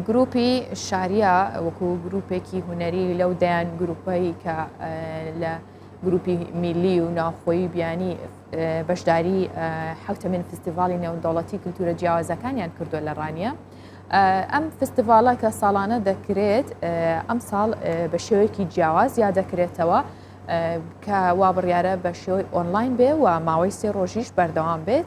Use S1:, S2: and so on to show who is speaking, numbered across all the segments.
S1: گروپی شاریا وەکو گروپێکی هوەری لەو دەیان گروپەی کە لە گروپی میلی و ناوخۆی بیانی بەشداری حوتەمین فستیڤالی نێودەوڵەتی کللتورە جیاوازەکانیان کردو لە ڕانیە ئەم فستیڤالە کە ساڵانە دەکرێت ئەم ساڵ بە شێوەیەکی جیاواز یا دەکرێتەوە کە وا بڕیاە بە شێوەی ئۆنلاین بێ و ماوەی سێ ڕۆژیش بەردەوام بێت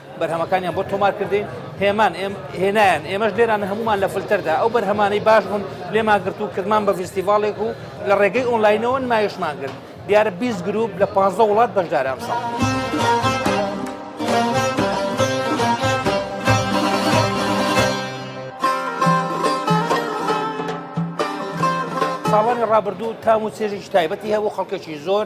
S2: بەرهەمەکانیان بۆ تۆمار کردین هێمان ئێم هێنایان ئێمەش لێران هەمومان لە فلتەردا ئەو بەرهەمانەی باش بوون لێمان گرت و کردمان بە فیستیڤالێک و لە ڕێگەی ئۆنلاینەوە نمایشمان کرد دیارە 20 گروپ لە 15 وڵات بەشدارام ساڵ. ساڵانی ڕابردوو تام و چێژێکی تایبەتی هەبوو خەڵکێکی زۆر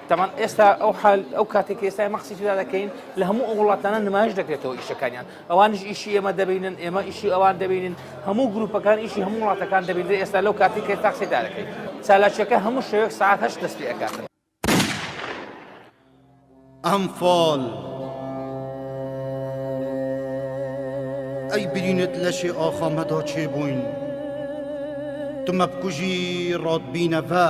S2: تەمان ئێستا ئەو حال ئەو کاتێک ئێستا ئێمە قسەی تێدا دەکەین لە هەموو ئەو وڵاتانە نمایش دەکرێتەوە ئیشەکانیان ئەوانش ئیشی ئێمە دەبینن ئێمە ئیشی ئەوان دەبینن هەموو گروپەکان ئیشی هەموو وڵاتەکان دەبینێت ئێستا لەو کاتێک کە تاقسی دارەکەی چالاکیەکە هەموو شەوێک ساعت هەشت دەست پێ ئەکات
S3: ئەمفال ئەی برینت لەشێ ئاخامەدا چێ بووین تمەبکوژی ڕاتبینەڤە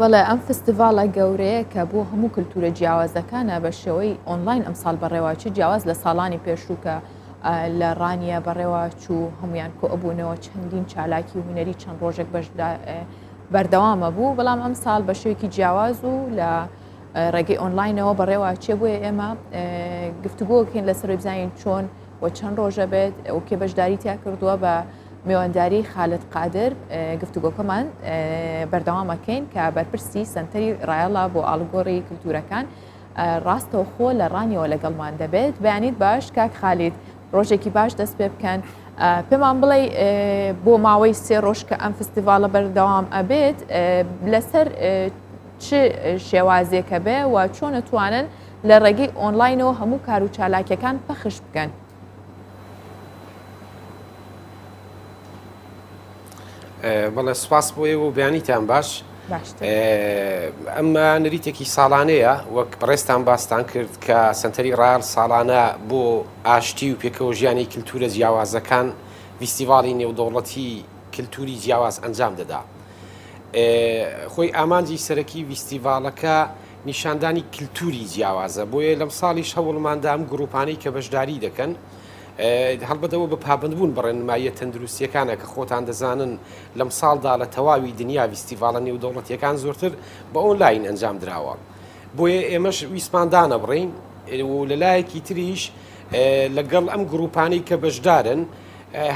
S1: بەڵێ ئەم فستیڤالە گەورەیە کە بۆ هەموو کللتورە جیاوازەکانە بە شێوەی ئۆنلاین ئەمساڵ بەڕێواچی جیاواز لە ساڵانی پێشووکە لە ڕانیە بەڕێوا چوو هەمویان کۆ ئەبوونەوە چەندین چالاکی و هوەری چەند ڕۆژێک بەشدا بەردەوامە بوو بەڵام ئەم ساڵ بە شێوکی جیاواز و لە ڕێگەی ئۆنلاینەوە بەڕێواچێ بۆیە ئێمە گفتوگۆکەین لە سەرۆی بزانین چۆن و چەند ڕۆژە بێت ئەو کێ بەشداری تیا کردووە بە میوانداری خالت قادر گفتوگۆکەمان بەردەوامەکەین کە بەرپرسی سنتەری ڕایەڵا بۆ ئاڵگۆڕی کللتورەکان ڕاستەوخۆ لە ڕانیەوە لەگەڵمان دەبێت بەیانیت باش کاک خالید ڕۆژێکی باش دەست پێ بکەن پێمان بڵێ بۆ ماوەی سێ ڕۆژ کە ئەم فستیڤالە بەردەوام ئەبێت لەسەر چ شێوازێکە بێ و چۆن توانن لە ڕێگەی ئۆنلاینەوە هەموو کار و چالاکیەکان پەخش بکەن.
S4: بەڵێ سپاس بۆ ئێوە و بیانیتان باش ئەمە نریتێکی ساڵانەیە وەک بەڕێستان باستان کرد کە سنتەری ڕار ساڵانە بۆ ئاشتی و پێکەوە ژیانی کللتورە جیاوازەکان ویستیڤاڵی نێودەوڵەتی کللتوری جیاواز ئەنجام دەدا. خۆی ئامانجی سەرەکی ویستیڤالەکە نیشاندانی کلتوری جیاوازە بۆیە لەم ساڵیش هەوڵماندا ئەم گروپانەی کە بەشداری دەکەن هەڵبەتەوە بە پابندبوون بەڕێنماییە تەندروستیەکانە کە خۆتان دەزانن لەم ساڵدا لە تەواوی دنیا ویستیڤالە نێودەوڵەتیەکان زۆرتر بە ئۆنلاین ئەنجام دراوە بۆیە ئێمەش ویسماندانە بڕین و لەلایەکی تریش لەگەڵ ئەم گروپانەی کە بەشدارن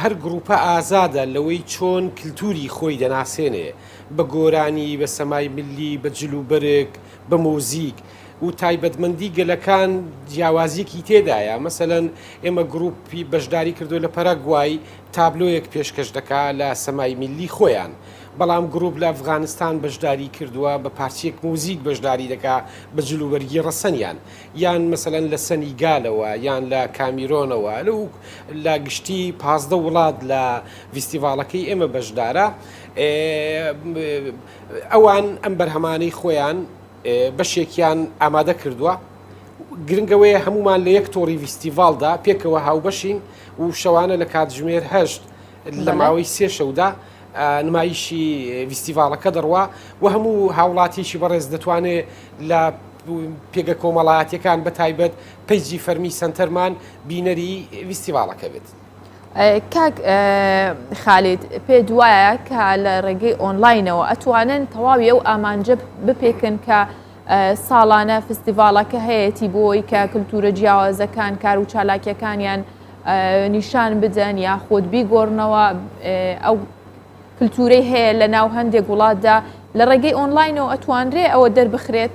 S4: هەر گروپە ئازادە لەوەی چۆن کللتوری خۆی دەناسێنێ بە گۆرانی، بە سەمای ملی، بە جل و بەرگ، بە مۆزیک و تایبەتمەندی گەلەکان جیاوازیەکی تێدایە، مەسەلەن ئێمە گروپی بەشداری کردوە لە پەراگوای تابلۆیەک پێشکەش دەکا لە سەمای ملی خۆیان، بەڵام گروپ لە ئەفغانستان بەشداری کردوە بە پارچەیەک مۆزیک بەشداری دەکا بە جل و بەرگی ڕەسەنیان، یان مەسەلەن لە سەنیگالەوە یان لە کامیرۆنەوە لە گشتی پازدە وڵات لە ڤیستیڤاڵەکەی ئێمە بەشدارە. ئەوان ئەم بەرهەمانەی خۆیان بەشێکیان ئامادە کردووە گرنگەوەیە هەمومان لە یەک تۆڕی ویستیڤالدا پێکەوە هاوبەشین و شەوانە لە کاتژمێر هەشت لە ماوەی سێ شەودا نمایشی ویستیڤالەکە دەڕوا و هەموو هاوڵاتیشی بەڕێز دەتوانێت لە پێگە کۆمەڵایەتەکان بە تایبەت پیجی فەرمی سنتەرمان بینەری ویستیڤالەکە بێت. کاک
S1: خالید پێ دوایە کە لە ڕێگەی ئۆنلاینەوە ئەتوانن تەواوی ئەو ئامانجە بپێکن کە ساڵانە فستیڤالەکە هەیەی بۆی کە کللتورە جیاوازەکان کار و چالاکیەکانیان نیشان بدەن یا خۆت بیگۆڕنەوە ئەو کللتورەی هەیە لە ناو هەندێک وڵاتدا لە ڕێگەی ئۆنلاینەوە ئەتوانرێ ئەوە دەربخرێت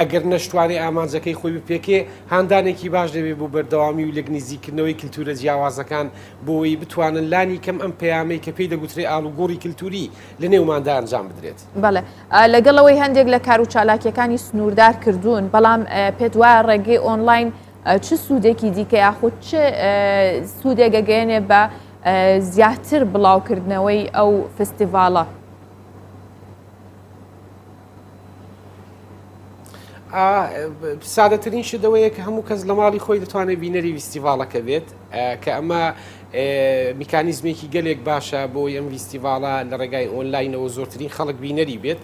S4: ئەگەر نەشتوانێ ئامانجەکەی خۆی بپێکێ، هاندانێکی باش دەبێ بۆ بەردەوامی و لێکنزیککردنەوەی کلتوورە جیاوازەکان بۆوەی بتوانن لانی کەم ئەم پەیامەی کە پێی دەگوترێ ئاڵوگۆڕی کلتووری لە نێوماندا ئەنجام بدرێت. بەڵێ، لەگەڵ
S1: ئەوەی هەندێک لە کار و چالاکییەکانی سنووردار کردوون، بەڵام پێت وایە ڕێگەی ئۆنلاین چ سوودێکی دیکە یاخود چ سوودێک ئەگەیەنێ بە زیاتر بڵاوکردنەوەی ئەو فستیڤاڵە؟
S4: سادەترین شت ئەوەیە کە هەموو کەس لە ماڵی خۆی دەتوانێت بینەری ویستیڤالەکە بێت کە ئەمە میکانیزمێکی گەلێک باشە بۆ ئەم ویستیڤالە لە ڕێگای ئۆنلاینەوە زۆرترین خەڵک بینەری بێت.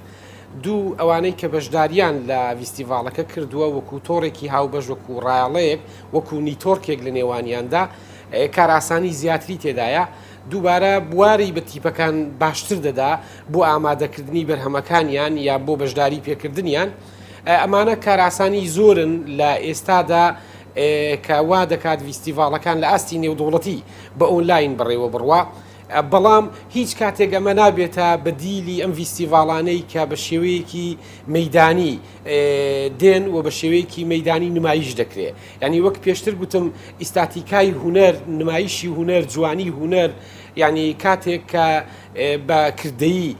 S4: دوو ئەوانەی کە بەشداریان لە ویستیڤالەکە کردووە وەکو تۆڕێکی هاوبەش وەکو ڕایاڵەیەک وەکو نیتۆرکێک لە نێوانیاندا کارئاسانی زیاتری تێدایە. دووبارە بواری بە تیپەکان باشتر دەدا بۆ ئامادەکردنی بەرهەمەکانیان یا بۆ بەشداری پێکردنیان ئەمانە کاراسانی زۆرن لە ئێستادا کە وا دەکات ویستیڤالەکان لە ئاستی نێودوڵەتی بە ئۆنلاین بڕێوە بڕوا بەڵام هیچ کاتێک ئەمە نابێتە بە دیلی ئەم ویستیڤالانەی کە بە شێوەیەکی مەدانی دێن و بە شێوەیەکی مەدانی نمایش دەکرێت یانی وەک پێشتر گوتم ئیستاتیکای هونەر، نمایشی هونەر، جوانی هونەر، یانی کاتێک کە بە کردەیی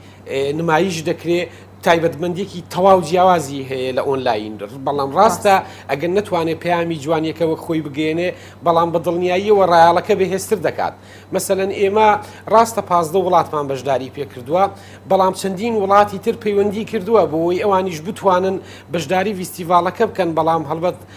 S4: نمایش دەکرێ تایبەتمەندێکی تەواو جیاوازی هەیە لە ئۆنلاین بەڵام ڕاستە ئەگەر نتوانێت پەیامی جوانیەکە وەک خۆی بگەێنێ بەڵام بە دڵنیاییەوە ڕایالەکە بەهێزتر دەکات مەسەەن ئێمە ڕاستە پازدە وڵاتمان بەشداری پێکردووە بەڵام چەندین وڵاتی تر پەیوەندی کردووە بۆی ئەوانیش بتوانن بەشداری ویستیڤالەکە بکەن بەڵام هەڵبەت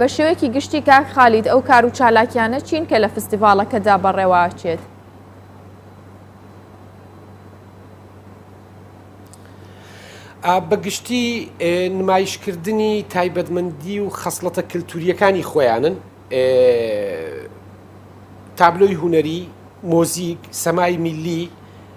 S4: بە شێوەیەکی
S1: گشتی کاک خالید ئەو کار و چالاکیانە چین کە لە فستیڤاڵەکەدا بەڕێواچێت؟
S4: بەگشتی نمایشکردنی تایبەتمەندی و خەسڵەتە کللتوریەکانی خۆیانن تابلۆی هوەری مۆزیک سەمای میلی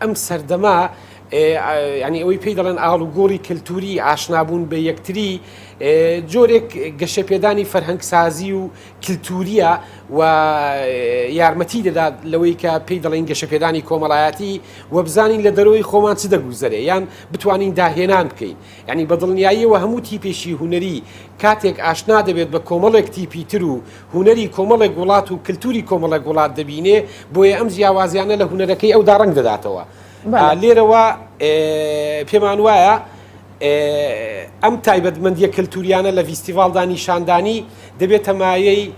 S4: ئەم سەردەمە یانی ئەوەی پێی دەڵێن ئاڵوگۆڕی کەلتوری ئاشنابوون بە یەکتری جۆرێک گەشەپێدانی فەرهەنگسازی و کللتوریە و یارمەتی دەدات لەوەی کە پێی دەڵێن گەشەپێدانی کۆمەڵایەتی وەبزانین لە دەرەوەی خۆمان چ دەگوزەرێ یان بتوانین داهێنان بکەین. یانی بە دڵنیاییەوە هەموو تیپێکی هونەری کاتێک ئاشنا دەبێت بە کۆمەڵێک تیپی تر و هونەری کۆمەڵێک وڵات و کلتوری کۆمەڵێک وڵات دەبینێ بۆیە ئەم جیاوازیانە لە هونەرەکەی ئەودا ڕەنگ دەداتەوە لێرەوە پێمان وایە ئەم تایبەتمەندیە کلتوریانە لە ڤیستیڤاڵدا نیشاندانی دەبێتە مایەی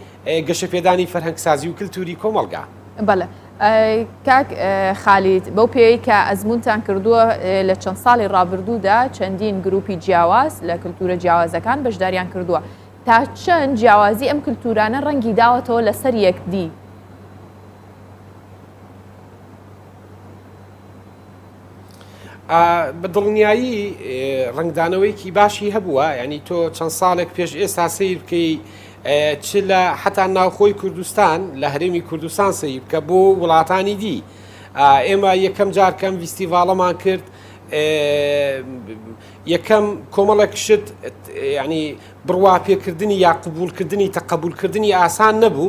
S4: گەشەپێدانی فەرهەنگسازی و کلتوری کۆمەڵگا. بەڵێ
S1: کاک خالید بەو پێی کە ئەزمونتان کردووە لە چەند ساڵی ڕابردوودا چەندین گروپی جیاواز لە کللتورە جیاوازەکان بەشداریان کردووە تا چەند جیاوازی ئەم کللتورانە ڕەنگی داوەتەوە لەسەر یەکدی
S4: بە دڵنیایی ڕنگدانەوەیکی باشی هەبووە ینی تۆ چەند ساڵێک پێش ئێستا سیر بکەی چ لە حتا ناوخۆی کوردستان لە هەرێمی کوردستان سەی بکە بۆ وڵاتانی دی ئێمە یەکەم جارکەم ویستیڤاڵەمان کرد یەکەم کۆمەڵێک شت ینی بڕوا پێکردنی یا قوبولکردنی تەقبولکردنی ئاسان نەبوو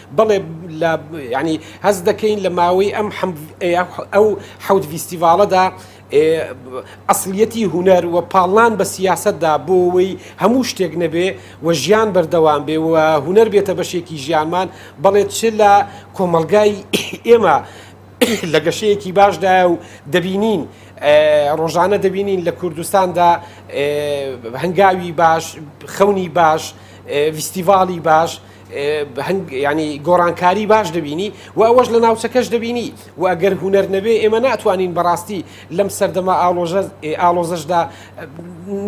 S4: بەڵێ لە ینی هەز دەکەین لە ماوەی ئەم ئەو حەوت ڤیستیڤالەدا ئەسلیەتی هوەر و پاڵان بە سیاستدا بۆەوەی هەموو شتێک نەبێ و ژیان بەردەوام بێ و هوەر بێتە بەشێکی ژیانمان بەڵێت چ لە کۆمەلگای ئێمە لە گەشەیەکی باشدایە و دەبینین ڕۆژانە دەبینین لە کوردستاندا هەنگاوی باش خەونی باش ویستیڤاڵی باش یانی گۆڕانکاری باش دەبینی و ئەوەش لە ناوچەکەش دەبینی و ئەگەر هوەر نەبێ ئێمە ناتوانین بەڕاستی لەم سەردەمە ئاڵۆژە ئاڵۆزەشدا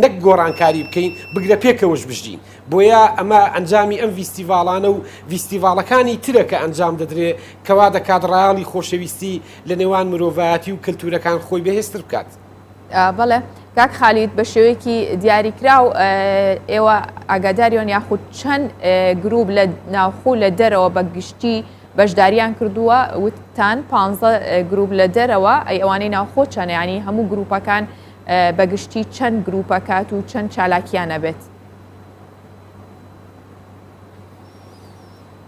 S4: نەک گۆڕانکاری بکەین بگرە پێکەوەش بژین بۆیە ئەمە ئەنجامی ئەم ویستیڤالانە و ویستیڤالەکانی ترە کە ئەنجام دەدرێ کەوا دەکات ڕایاڵی خۆشەویستی لە نێوان مرۆڤایەتی و کەلتورەکان خۆی بەهێزتر بکات. بەڵێ
S1: کاک خالید بە شێوەیەکی دیاریکراو ئێوە ئاگاداریۆن یاخود چەند گروپ لە ناوخۆ لە دەرەوە بە گشتی بەشداریان کردووە وتان پ گروپ لە دەرەوە ئەی ئەوانەی ناوخۆ چەنیانی هەموو گروپەکان بەگشتی چەند گروپەکات و چەند چالاکیانە بێت.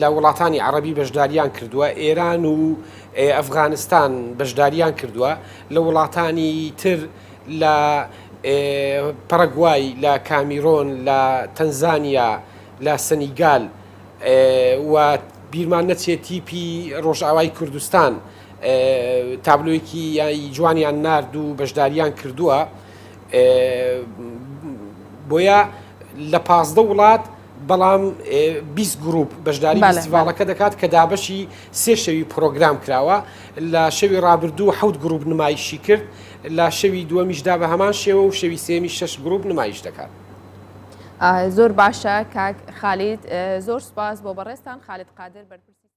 S4: لە وڵاتانی عەڕەبی بەشداریان کردووە، ئێران و ئەفغانستان بەشداریان کردووە، لە وڵاتانی تر لە پەڕەگوای، لە کامیرۆن، لە تەنزانیا، لە سەنیگال و بیرمان نەچێ تیپی ڕۆژئاوای کوردستان تابلۆیەکی جوانیان نارد و بەشداریان کردووە. بۆیە لە پازدە وڵات، بەڵام بیست گروپ بەشداری فیستیڤاڵەکە دەکات کە دابەشی سێ شەوی پرۆگرام کراوە لە شەوی ڕابردوو حەوت گروپ نمایشی کرد لە شەوی دووەمیشدا بە هەمان شێوە و شەوی سێمی شەش گروپ نمایش دەکات.
S1: زۆر باشە کاک خالید زۆر سپاس بۆ بەڕێستان خالید قادر بەرپرسی